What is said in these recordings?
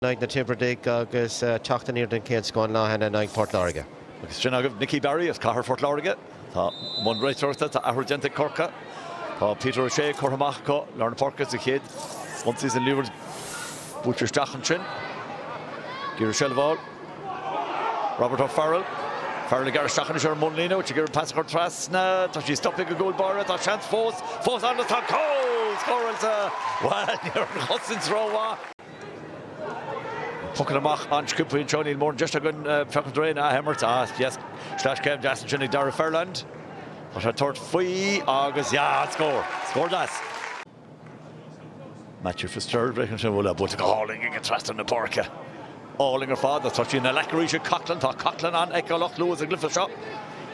in aghaidh na dTiobradach agus teacht aniar den chéad scuad lena haithne in aghaidh Phort Láirge. Agus sin agaibh Nicky Barry as cathair Phort Láirge. Tá i mbun réiteoireachta, tá athrú déanta ag Corcaigh. Tá Peter O'Shea curtha amach acu lár na páirce as a chéad ionsaí as an liathróid buaite isteach ansin. Ag iarraidh seilbh a fháil. Robert O'Farrell. Farrell ag gearradh isteach anois ar an mbunlíne. Ag iarraidh pas a chur trasna. Tá sí stoptha ag an gcúl báire. Tá seans fós. Fós ann agus tá cúl scóráilte! Bhuel, ní raibh an chosaint rómhaith. Poc amach an-sciobtha faoi anseo. Níl mórán deis againn feachaint ar aon ath-imirt. Ah, yes, sleaschéim deas ansin ag Dara Furlong. Tá sé ag tabhairt faoi agus, yeah, an scór! Scór deas. Matthew Fitzgerald breaking ansin, bhuel, buailte go hálainn aige trasna na páirce. Álainn ar fad, agus tá sí ina ghlac arís ag Coughlan. Tá Coughlan an-fheiceálach luath sa gcluiche seo.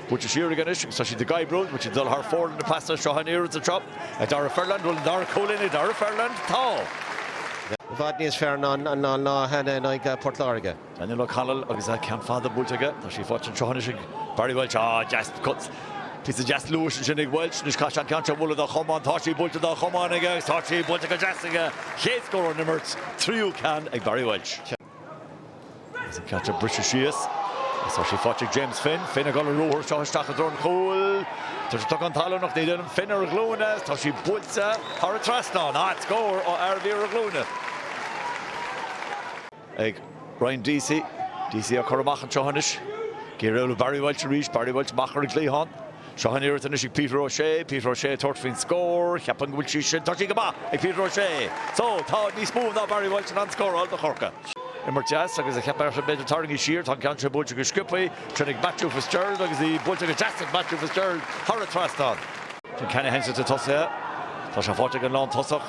Buailte siar aige anois, agus tá siad ag oibriú, tá siad ag dul thar fóir lena pasa seo in iarratas seo. Ag Dara Furlong, bhuel, an dara cúilín, ag Dara Furlong, tá. I bhfad níos fearr ná ná cheana in aghaidh Port Láirge. Daniel O'Connell agus an ceann fada buailte aige. Tá sí faighte anseo anois ag Barry Walsh. Á, deas, cuts. Píosa deas luais ansin ag Walsh. Anois caithfidh sé an ceann seo a bhualadh dá chiotóg. Tá sí buailte dá chiotóg aige agus tá sí buailte go deas aige. Chéad scór ón imirt, tríú ceann ag Barry Walsh. Agus an caite briste síos. Is tá sí faighte ag James Finn. Finn ag dul ar an ruathar seo isteach i dtreo an chúil. Tá sé tugtha chun talún ach éiríonn Finn ar a ghlúine. Is tá sí buailte thar an trasnán. Ait! Scór ó fhear a bhí ar a ghlúine ag Ryan Deasy. Deasy á chur amach anseo anois. Go dtí Barry Walsh arís. Barry Walsh amach ar an gcliathán. Seo an fear anois ag Peter O'Shea, Peter O'Shea ag tabhairt faoin scór, cheapfainn go bhfuil sí sin, tá sí go maith ag Peter O'Shea. So, tá níos mó ná Barry Walsh in ann scóráil do Chorcaigh. Imirt dheas agus a cheap Ayrton b'fhéidir tarraingt siar, tá an ceann seo buailte go sciobtha, tirim ag Matthew Fitzgerald agus í buailte go deas ag Matthew Fitzgerald thar an trasnán. Tim Canahan sa tosaithe, tá sé faighte ag an lántosach.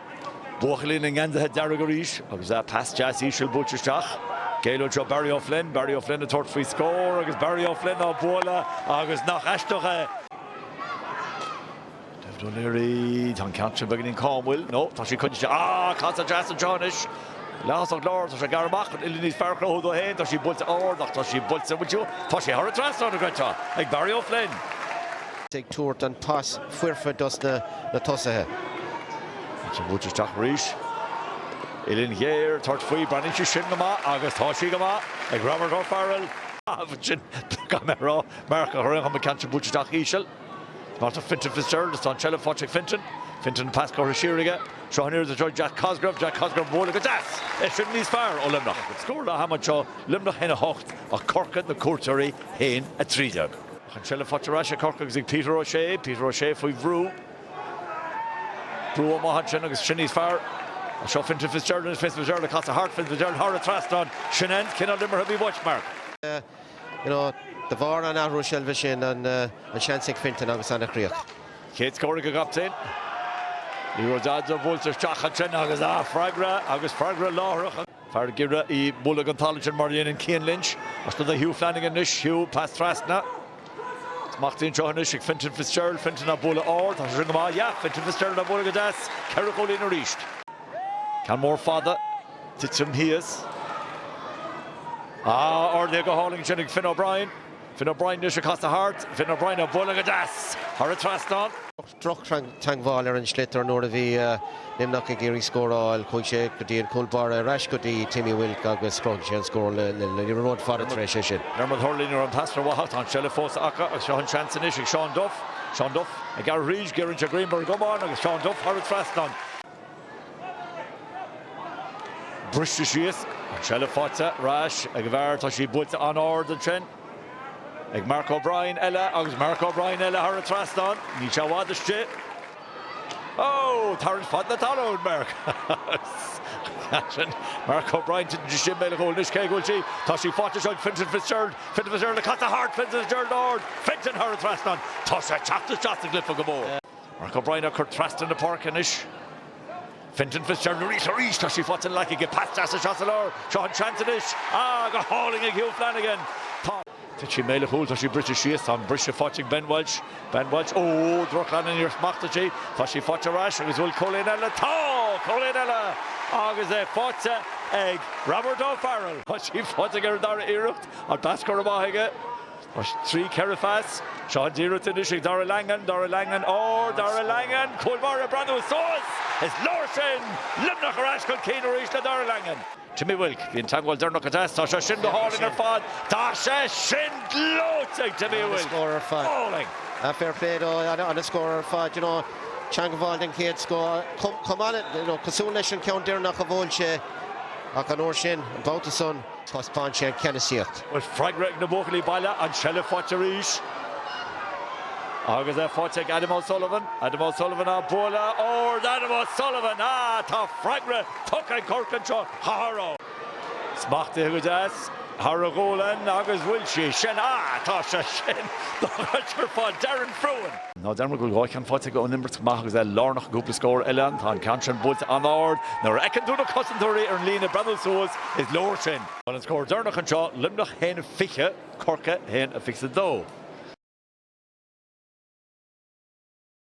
Buachaillí na ngeansaithe dearga arís agus an pas deas íseal buailte isteach. I dtreo Barry O'Flynn, Barry O'Flynn ag tabhairt faoi scór agus Barry O'Flynn á bualadh agus nach aisteach é! David O'Leary, tá an ceann sin beagáinín an cá an bhfuil? No, tá sí coinnte. Ah, casadh deas anseo anois. Leath-thosach láir, tá sé ag bearradh amach chun uillinn níos fearr a chruthú dó féin, tá sí buailte ard ach tá sí buailte, bhuel, tá sí thar an trasnán, creidtear, ag Barry O'Flynn. ag tabhairt an pas. foirfe dos na tosaithe. Ansin bhuail sí isteach arís. Uillinn ghéar, tabhairt faoi. cheapfainn sí sin go maith agus tá sí go maith ag Robert O'Farrell. Ansin, gan mé a rá, Marc a chur aon chuma an ceann sin buailte isteach íseal. Mar atá Fintan Fitzgerald is tá an seilbh faighte ag Fintan. Fintan an pas curtha siar aige. Seo an oiread is raibh Jack Cosgrave. Jack Cosgrave buaileadh go deas. É sin níos fearr ó Luimneach. Scór leath ama anseo, Luimneach 1, 8 Corcaigh na cuairteoirí 1, 13. Ach an tseilbh faighte ar ais ag Corcaigh agus ag Peter O'Shea, Peter O'Shea faoi bhrú. Brú an-mhaith ansin agus sin níos fearr. Ach seo Fintan Fitzgerald anois, Fintan Fitzgerald ag casadh thart, Fintan Fitzgerald thar an trasnán, sin an cineál imeartha a bhí uait, Mark. De bharr an athrú seilbhe sin, an seans ag Fintan agus an chríoch. Chéad scór ag an gcaptaen. Ní raibh a dhath de buailte isteach ansin agus, ah, freagra agus freagra láithreach. Fear ag imirt í a bhualadh ón talaimh sin, mar a dhéanann Cian Lynch. Ach seo do Hugh Flanagan anois. Hugh, pas trasna. Smacht ansin anois ag Fintan Fitzgerald. Fintan á bualadh ard. Tá sé sin go maith. Yah! Fintan Fitzgerald á bhualadh go deas. Ceithre chúilín arís. Ceann mór fada. Titeann thíos. Ah, ardaithe go hálainn ansin ag Finn O'Brien. Finn O'Brien anois ag casadh thart. Finn O'Brien á bualadh go deas. Thar an trasnán. droch-theagmháil ar an sliotar nuair a bhí Luimneach ag iarraidh scóráil, chuaigh sé go dtí an cúl báire ar ais go dtí Timmy Wilk agus chruthaigh sé an scór le liathróid fada tar éis sin. Dermot Hurley, níl an tarna bata, tá an seilbh fós acu agus seo an seans anois ag Seán Duff. Seán Duff, ag gearradh tríd, giorraíonn sé greim ar a chamán agus Seán Duff thar an trasnán. Briste síos, an tseilbh faighte ar ais ag an bhfear, tá sí buailte an-ard ansin ag Mark O'Brien eile agus Mark O'Brien eile thar an trasnán, níl sé i bhfad istigh. Ó! Tarraingt fhada na talún, Mark! Sin Mark O'Brien titeann istigh i mbéal an chúil anois, cé a bhuail sí? Tá sí faighte seo ag Fintan Fitzgerald, Fintan Fitzgerald ag casadh thart, Fintan Fitzgerald ard, Fintan thar an trasnán, tá sé ag teacht isteach sa gcluiche go mór. Mark O'Brien ag cur trasna na páirce anois. Fintan Fitzgerald arís, arís! Tá sí faighte in aice aige. Pas deas isteach sa lár. Seo an seans anois. Ah, go hálainn ag Hugh Flanagan. Tá. Thit sí i mbéal an chúil tá sí briste síos. Tá an briseadh faighte ag Ben Welsh. Ben Welsh, óóó, droch-cheann, níor smachtaigh sí. Tá sí faighte ar ais agus bhfuil Cúilín eile? Tá! Cúilín eile! Agus é faighte ag Robert O'Farrell. Tá sí faighte aige ar an dara iarracht. An pas curtha amach aige. 3, 4 phas, Seán Dírot anois ag Darragh Langan, Darragh Langan, ard Darragh Langan, Cúl Báire ag breathnú suas! Is leor sin! Luimneach ar ais chun cinn arís le Darragh Langan. Timmy Wilk, Bhí an teagmháil deireanach deas, tá sé sin go hálainn ar fad, tá sé sin gleoite ag Timmy Wilk! Fair play dó, ana-scór ar fad, you know, teangmháil den chéad scoth, chomh maith le, you know, cosúil leis an ceann deireanach a bhuail sé, ach an uair sin, an babhta san, Thaispeáin sé an cheannasaíocht. Bhfuil freagra ag na buachaillí baile? An tseilbh faighte arís. Agus é faighte ag Adam O'Sullivan. Adam O'Sullivan á bualadh ard. Adam O'Sullivan! Ah, tá freagra tugtha ag Corcaigh anseo. Chaithfear ó. Smachtaithe go deas. Thar a ghualainn. Agus bhfuil sé sin. Ah, tá. Sé sin. Dá gcuirtear fá Darren Frewen. Ná dearmad go bhfuil dhá cheann faighte aige ón imirt amach agus é lárnach i gcúpla scór eile. Tá an ceann sin buailte an-ard. Nuair a fheiceann tú na cosantóirí ar an líne ag breathnú suas, is leor sin. An scór deireanach anseo, Luimneach 1, 20, Corcaigh 1, 22.